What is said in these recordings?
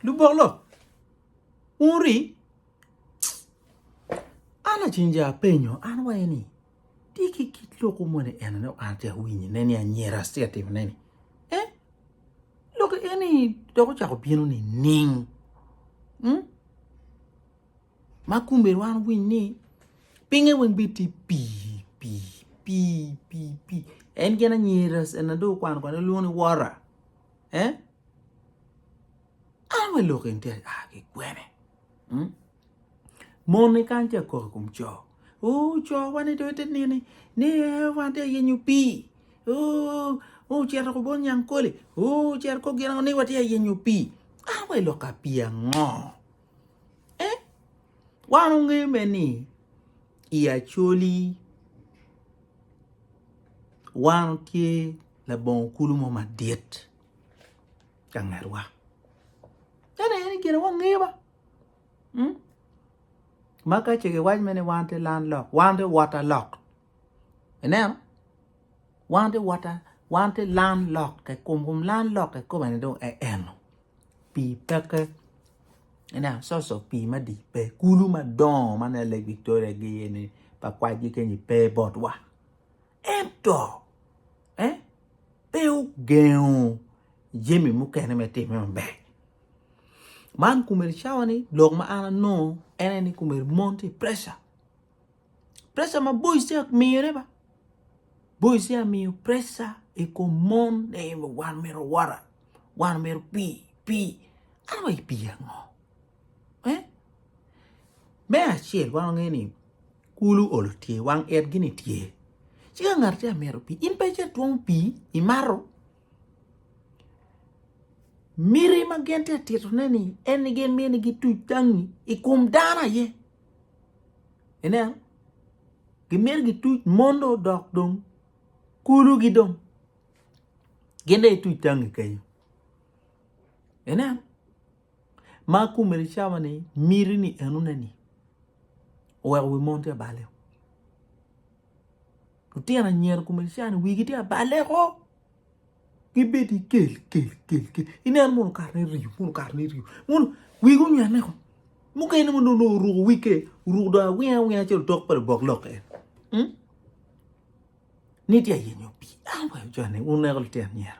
Lubok lo, wun wuri? An lacen je apenyo, an wa eni, tye ki kit lok moni enone an atyeko winyo ne ni anyira atye ka timone ni? Eh? Lok eni dok ocako bino nining? Hmm? Ma kumbe wan winy ni pinge weng bi ti pi pi pi pi pi en gen anyira na do kwano kwano lwongo ni wora. Eh? An wa lok in tek aa ki kwene? Mon ni kan tye kok kum co. Oh, co wa ni dong ite nini, ni eh, wa te yenyo pi. Oh, oh, cer ko bon nyang koli. Oh, cer ko gina ni wa te yenyo pi. An wa lok ka pi ango? Eh, wan unge me ni i acoli wan tye labongo kulu mo madit. ka ngetwa ene aye ni gire wangeyo ba hmm? ma ka ce giwac mene wan te lan lok wan te wota lok ineno wan te wota wan te lan lok ke kum kum lan lok ke kobane dong e eno pi peke ina so so pi ma di pe kulu ma dongo ma ne lake victoria gi ni pa kwaj gi kenyi pe botwa ento Eh? Pe ogengo jami mukene me time maber. Man kumeri cawa ni lok ma an anongo en ni kumeri mon ti pressure. Pressure ma boys ti miyo ne ba. Boys ti miyo pressure i kom mon ni wan mero wara, wan mero pi, pi. An wa ipi ango? Eh? Me acel wan wange ni Kulu olo tye, wang it gini tye. Ci ka ngat tye amito pii, in pe ce twongo pii imato. Miti ma gin tye titone ni en gi mini gi tuc tangi i kom dano aye. Ineno? Gi miti gi tuc mon do odok dong kulu gi dong. Gin de i tuc tangi kenyo. Ineno? ma kome ni cawa ni miti ni eno ne ni oweko wi mon ti abale lutino anyira kome ni cawa ni wigi ti abale ko gi bedi kel kel kel kel inen mono okato ni riyo mono okato ni riyo mono wigi onywene ko mukene mono dong oruko wig ke oruko dong awinga awinga calo otok pa lubok lok en. ni tye ayenyo pi an wa ico ni wun ineko litino anyira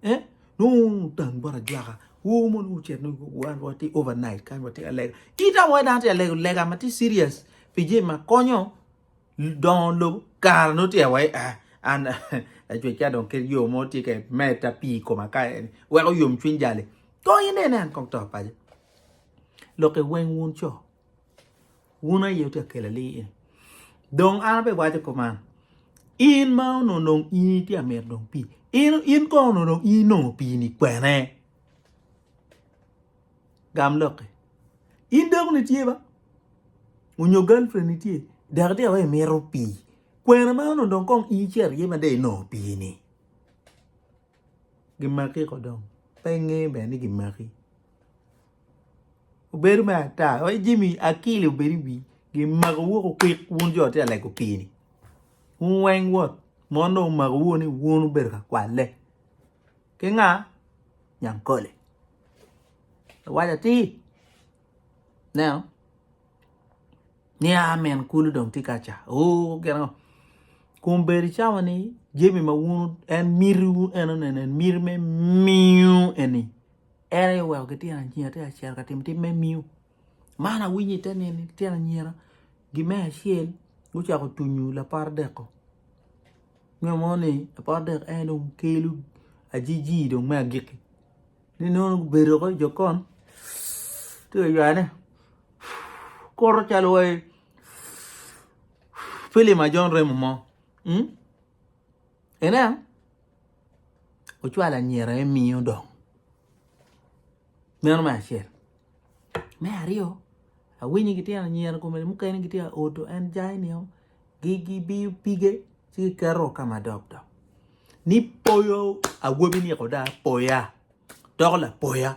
eh nongo wun otang bot ajwaka wor mono wucit ni wan watye over night kany watye ka lega ita mo dano tye ka lego lega ma tye serious pi jami ma konyo dongo lobo kara nongo tye awai ah an lacwec ka dong ket yo mo tye ka meta pi i koma ka eni weko yom cwiny jali kong inene an kong to paco lok iweng wun co Wun aye wutye ka kela li eni. Dong an abiwaco kuman, in ma onongo dong in itye ka mito dong pii, in, in kong onongo dong in inongo pii-ni kwene? Gam lokke. In dakoni tye ba? Onyo girlfriend itye? Dok itye ka waco imito pii. Kwene ma onongo dong kong in icito iye ma dong inongo pii-ni? gimaki ko dong pe inge bene ni gimaki obedo me ata wai Jimmy akil obed i wi gimako wu kukik wun jo ma tye ka lego pii ni wun weng wot mon dong omako wu ni wun wubedo ka kwale ki nga Nyankole awaco atir ineno. ni a min kulu dong tye ka ca oo gin ango kun bene icawa ni jami ma wun en mitiwu en oneno en miti me miu eni en aye oweko gityen anyira tye ka cito ka timo tim me miu man awinyo ite nini lityen anyira gi me acel gucako tunyu lapar deko nyo mo ni lapar deko en dong kelo ajiji dong me agikki ni nongo gubedo woko i jokon tye ka ywayone kuro calo wai filim ajon remo mo hmm? ene ocwalo anyira emiyo dong meno me acel Me aryo, awinyo gitye ka nyero kome mukene gitye ka odo en jai ni o gibiyo pige ci giketo ka madok dok ni poyo awobi ni koda poya doko lapoya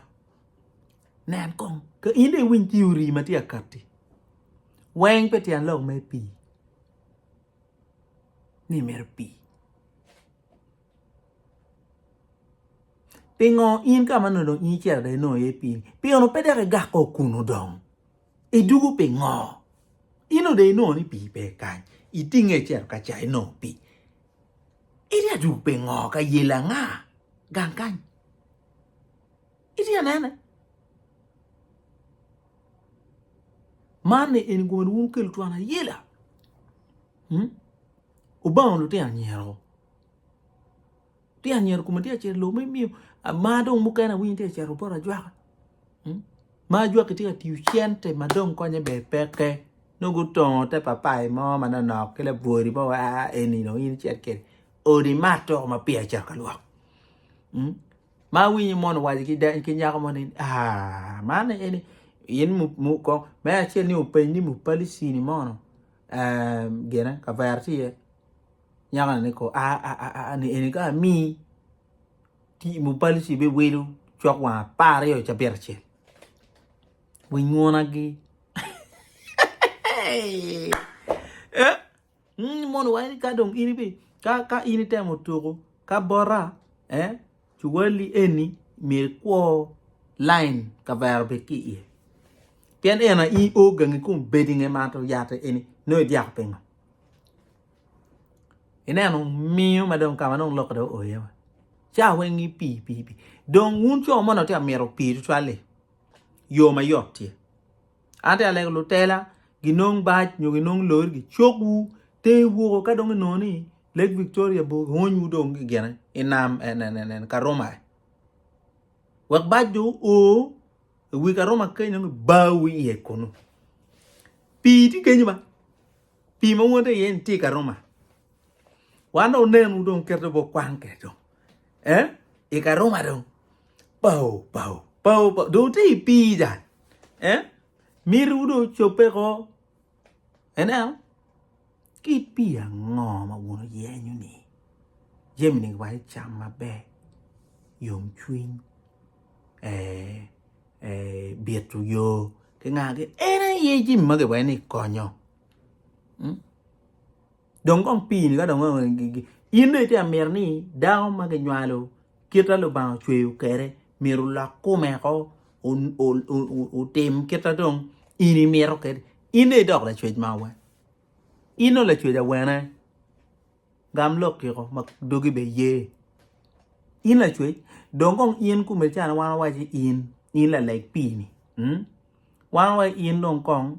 nen kong ka in dong iwiny theory ma tye ka katti weng pi tyen lok me pii ni myero pii Pingo in ka ma nongo dong in icito dong inongo iye pii-ni pien pe dok igako kunu dong? Idwogo pingo? In onongo dong inongo ni pii pe kany itinge icito ka ca inongo pii, itye ka dwogo pingo ka yel anga gang kany? Itye ka nene? Man-ni en gomene wun wukelo twon ayela. Obango lutino anyira-ro. Lutino anyira kome tye ka cito i lobo ma imiyo mar dong mukene awinyo tye ka cito bot ajwaka. Ma ajwaki tye ka tiyo cente ma dong konye ber peke. Nongo gutongo te papai mo ma nonok ki labwodi mo wa aa eni dong in icit kwede. Odi mato ma peya icito ka lwok. Ma awinyo mon owaco ki nyako mo ni aa man eni in mu kong me acel ni openy ni mupali cini mono. gine kavere tye iye nyakoni ni kor aa ni eni ka amii tii mo pali ci ibedo cok wang apar aryo ca abiro acel winy nguna gi mono wai ka dong in ka in itemo tuku ka bota. Cuwali eni myero ikwo line kavera obed ki iye pien en aye i o gangi kun bedi nge mato yat eni nongo idyako pingo? Ineno miyo ma dong kama dong lokke dong oye wa ca weng ipii pii pii dong wun co moni atye ka mito pii tutwal-li yo ma yot tye An te alego lutela ginong bac nyo ginong lori gicok wu ter woko ka dong inongo ni Lake Victoria bo giwony wu dong gigene i nam en en en en Karuma wek bac jo o i wi Karuma keny dong gibawu iye kunu pii tye kenyo ma pii ma wun te iye ni tye i Karuma wan dong onen wu dong kite bo kwan kede dong eh i Karuma dong Bao, bao, bao, bao. Dong te i pii dan. Eh? Miriwu dong ocobbe ko. Eneo? Kit pii ango ma wun oyenyo ni? Jemi ni wa icam maber. Yom cwiny. Eh, eh, bito yo. Kingagi, en aye jemi magi wa ni konyo. Hmm? dong kong pii ni ka dong in dong itye ka miti ni dako ma kinywalo kite ma Lubanga ocweyo kwede myero olok kome woko otim kit ma dong in imito kwede in dong idok lacwec ma awene in dong lacwec awene gam lokki woko ma dogi bene ye in lacwec dong kong in kome ca wan wawaci in in laleg pii ni wan wawaci in dong kong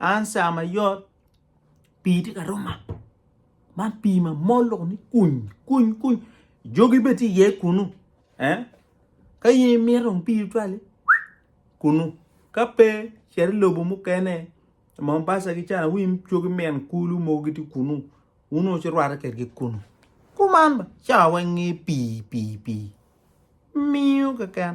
An saa ma yot pii tye ka roma man pii ma mol lok ni kuny kuny kuny jogi bene tye iye kunu eh ka in imito dong pii tutwal li kunu ka pe cit i lobo mukene Mombasa ki can wi cogi min kulu mogo gitye kunu wun onongo ci irwatte kwedgi kunu kuman cawa weng nge pii pii pii miyo keken.